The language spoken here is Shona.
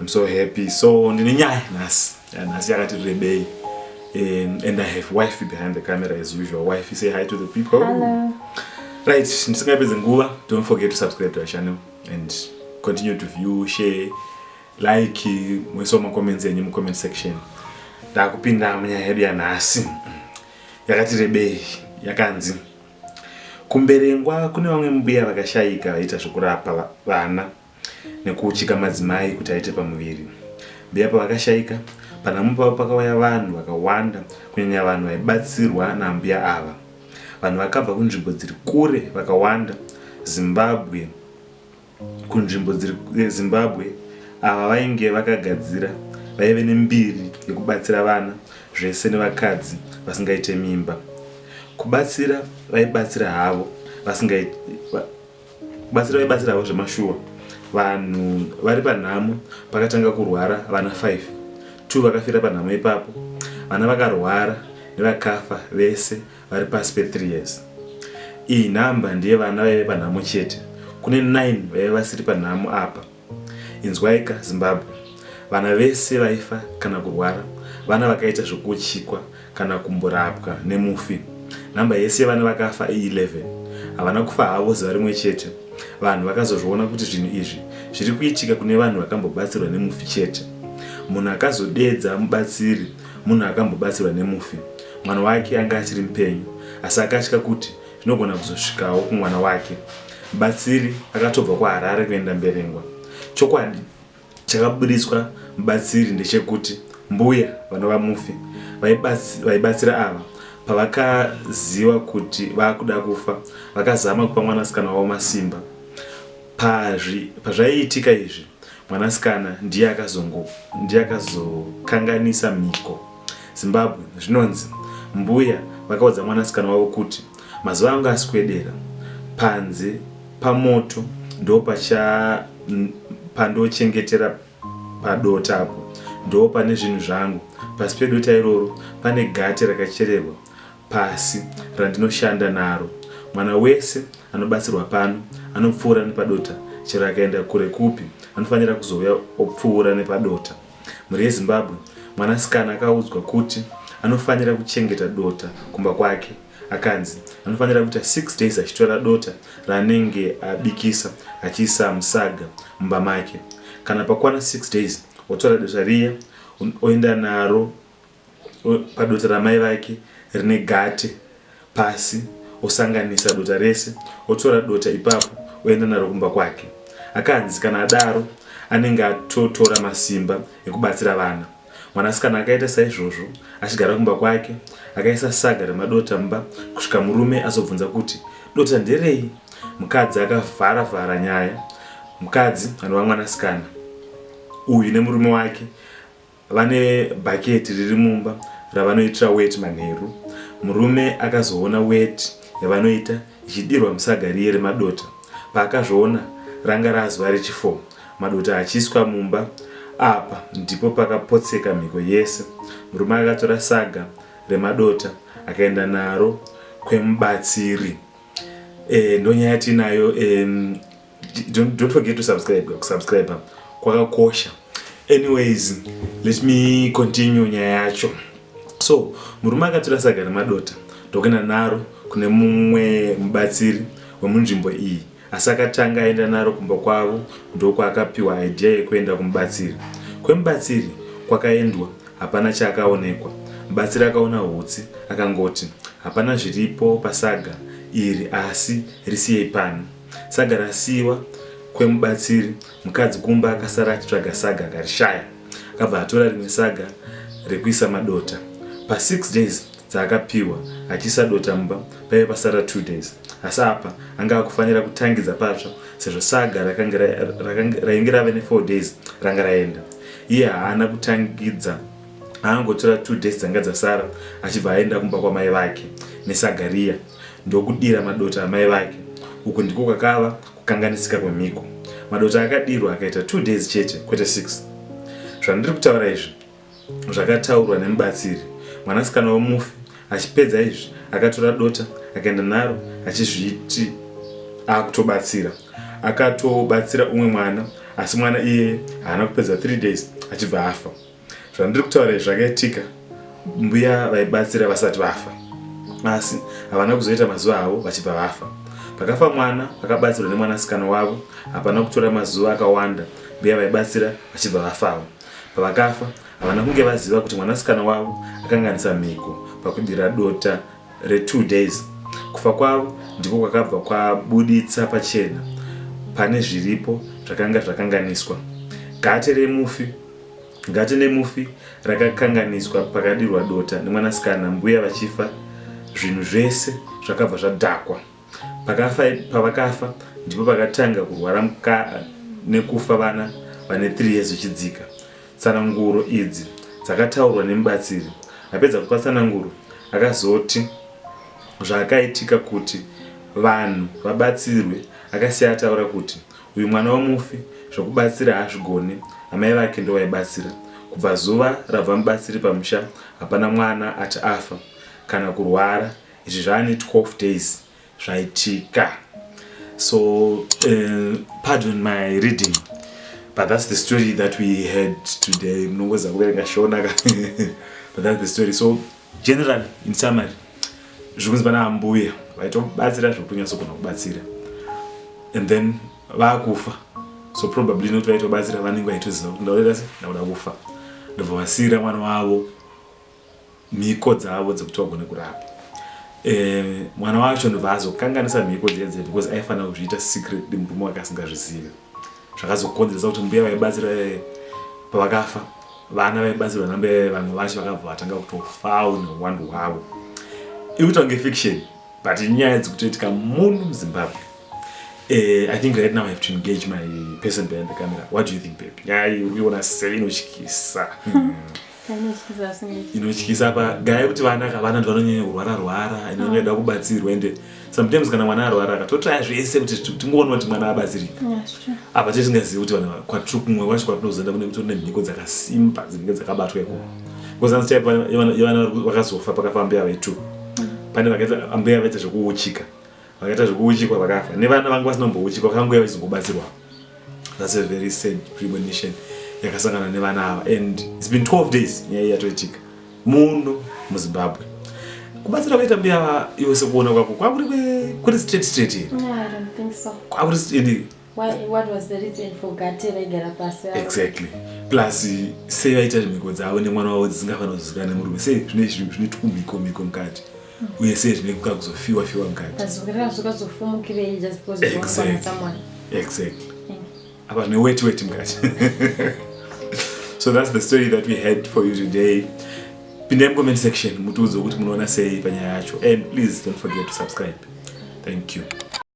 I'm so happy. So ndine nyaya nhasi. Nhasi yakati rebei. Um, and I have wifey behind the camera as usual. Wifey, say hi to the people. Hello. Right, ndisingapedze nguva, don't forget to subscribe to our channel and continue to view, share, like, muisawo macomments enyu mucomment section. Ndakupinda munyaya yedu yanhasi. Yakati rebei, yakanzi kumberengwa kune vamwe mbuya vakashaika vaita zvekurapa vana Nekuuchika madzimai kuti aite pamuviri, mbuya pavakashaika, panhamo pavo pakauya vanhu vakawanda kunyanya vanhu vaibatsirwa naambuya ava. Vanhu vakabva kunzvimbo dziri kure vakawanda Zimbabwe kunzvimbo dziri Zimbabwe ava vainge vakagadzira vaive nembiri yekubatsira vana zvese nevakadzi vasingaite mimba. Kubatsira vaibatsira havo vasingaite Kubatsira vaibatsiravo zvemashuwa vanhu vari panhamo pakatanga kurwara vana 5 two vakafira panhamo ipapo vana vakarwara nevakafa vese vari pasi pe 3 years iyi number ndeye vana vaive panhamo chete kune 9 vaive vasiri panhamo apa Inzwaika Zimbabwe, vana vese vaifa kana kurwara, vana vakaita zvekuuchikwa kana kumborapwa nemufi. Number yese yevana vakafa i 11. Havana kufa havo zuva rimwe chete. Vanhu vakazozviona kuti zvinhu izvi zviri kuitika kune vanhu vakambobatsirwa nemufi chete. Munhu akazodedza mubatsiri munhu akambobatsirwa nemufi. Mwana wake anga achiri mupenyu asi akatya kuti zvinogona kuzosvikawo kumwana wake. Mubatsiri akatobva kuHarare kuenda Mberengwa. Chokwadi chakaburitswa mubatsiri ndechekuti mbuya vanova mufi vaibatsira ava pavakaziva kuti vakuda kufa vakazama kupa mwanasikana wavo masimba. Pazvaiitika izvi mwanasikana ndiye akazokanganisa mhiko. Zimbabwe, zvinonzi mbuya vakaudza mwanasikana wavo kuti mazuva angu aswedera panze pamoto ndopacha pandochengetera padota apo ndoo pane zvinhu zvangu pasi pedota iroro pane gate rakachererwa pasi randinoshanda naro mwana wese anobatsirwa pano anopfuura nepadota chero akaenda kure kupi anofanira kuzouya opfuura nepadota Mhuri yeZimbabwe, mwanasikana akaudzwa kuti anofanira kuchengeta dota kumba kwake akanzi anofanira kuita six days achitora dota raanenge abikisa achiisa musaga mumba make. Kana pakwana six days, otora dota riya oenda naro padota ramai vake rine gate pasi osanganisa dota rese otora dota ipapo oenda naro kumba kwake akanzi kana adaro anenge atotora masimba ekubatsira vana mwanasikana akaita saizvozvo achigara kumba kwake akaisa saga remadota mba kusvika murume azobvunza kuti dota nderei mukadzi akavhara vhara nyaya mukadzi anova mwanasikana uyu nemurume wake Vane bhaketi riri mumba ravanoitira weti manheru. Murume akazoona weti yavanoita ichidirwa musaga riye remadota. Paakazviona ranga razuva rechifour madota achiiswa mumba. Apa ndipo pakapotseka mhiko yese. Murume akatora saga remadota akaenda naro kwemubatsiri. Eh ndonyaya yatinayo eh don't, don't forget to subscribe kusubscribe kwakakosha anyways let me continue nyaya yacho so murume akatora saga remadota ndokuenda naro kune mumwe mubatsiri wemunzvimbo iyi asi akatanga aenda naro kumba kwavo ndokwaakapiwa idea yekuenda kumubatsiri kwemubatsiri kwakaendwa hapana chaakaonekwa mubatsiri akaona hutsi akangoti hapana zviripo pasaga iri asi risiyei pano Saga rasiiwa kwemubatsiri, mukadzi kumba akasara achitsvaga saga akarishaya. Akabva atora rimwe saga rekuisa madota. Pa six days dzaakapihwa achiisa dota mumba paive pasara two days asi apa anga akufanira kutangidza patsva sezvo saga rakange ra- rakange- rainge rave ne four days ranga raenda. Iye haana kutangidza aangotora two days dzanga dzasara achibva aenda kumba kwamai vake nesaga riya. ndokudira madota amai vake uku ndiko kwakava kukanganisika kwemhiko madota akadirwa akaita two days chete kwete six zvandiri kutaura izvi zvakataurwa nemubatsiri mwanasikana wemufi achipedza izvi akatora dota akaenda naro achizviti akutobatsira akatobatsira umwe mwana asi mwana iyeye haana kupedza three days achibva afa zvandiri kutaura izvi zvakaitika mbuya vaibatsira vasati vafa asi havana kuzoita mazuva avo vachibva vafa pakafa mwana vakabatsirwa nemwanasikana wavo hapana kutora mazuva akawanda mbuya vaibatsira vachibva vafawo pavakafa havana kunge vaziva kuti mwanasikana wavo akanganisa mhiko pakudira dota retwo days kufa kwavo ndiko kwakabva kwabuditsa pachena pane zviripo zvakanga zvakanganiswa gate remufi Gate nemufi rakakanganiswa pakadirwa dota nemwanasikana mbuya vachifa zvinhu zvese zvakabva zvadhakwa. Pakafa pavakafa ndipo pakatanga kurwara muka nekufa vana vane 3 years zvichidzika. Tsananguro idzi dzakataurwa nemubatsiri. Apedza kupa tsananguro akazoti zvaakaitika kuti vanhu vabatsirwe akasiya ataura kuti Uyu mwana wemufi zvekubatsira haazvigone amai vake ndovaibatsira kubva zuva rabva mubatsiri pamusha hapana mwana ati afa kana kurwara izvi zvaane 12 days zvaitika so uh, pardon my reading but that's the story that we had today mnongoza kuverenga shona but that's the story so Generally, in summary, zvikunzi vana ambuya vaitobatsira zvekutonyatsogona kubatsira and then vakufa so probably not vaitobatsira vanenge vaitoziva kuti ndaoita se ndakuda kufa ndobva vasiyira mwana wavo mhiko dzavo dzekuti vagone kurapa eh, mwana wacho ndobva azokanganisa mhiko dziya dziya because aifanira kuzviita secretly murume wake asingazvizive zvakazokonzeresa kuti mbuya vaibatsira eh, pavakafa vana vaibatsirwa nambuya vamwe vacho vakabva vatanga kutofawo neuwandu hwavo ikuita kunge fiction but inyaya dzikutoitika muno muzimbabwe eh, i think right now i have to engage my person behind the camera what do you think babe nyaya iriona sei inotyisa hmm. inotyisa pagaya kuti vana kavana ndi vanonyanya kurwara rwara and vanoda mm. kubatsirwa ende sometimes kana mwana arwara katotraya zvese kuti tingoona kuti mwana abatsirika apa tee tingazivi kuti vana kwatiri kumwe kwacho kwatinozoenda kune kutori nemhiko dzakasimba dzinenge dzakabatwa ikoko because anzi type yevana vakazofa pakafambeya vetu mm. pane vakaita ambeya vaita zvekuuchika vakaita zvekuuchikwa vakafa nevana vanga vasinombouchikwa vakangouya vachizongobatsirwa thats a very sad premonition yakasangana nevana ava and its been 12 days nyaya yatoitika muno muzimbabwe kubatsira kuita mbuya ava iwe sekuona kwako kwakuri kuri straight straight here kwakuri Why, what was the reason for gate vaigara pasi exactly plus sei vaita zvimhiko dzavo nemwana wavo dzisingafanira kuzivikana nemurume sei zvine zvine twumhiko mhiko mukati hmm. uye sei zvine kuka kuzofiwa fiwa mukati exactly hmm. apa zvine weti weti mukati so that's the story that we had for you today pindai mucomment section mutiudze kuti munoona sei panyaya yacho and please don't forget to subscribe thank you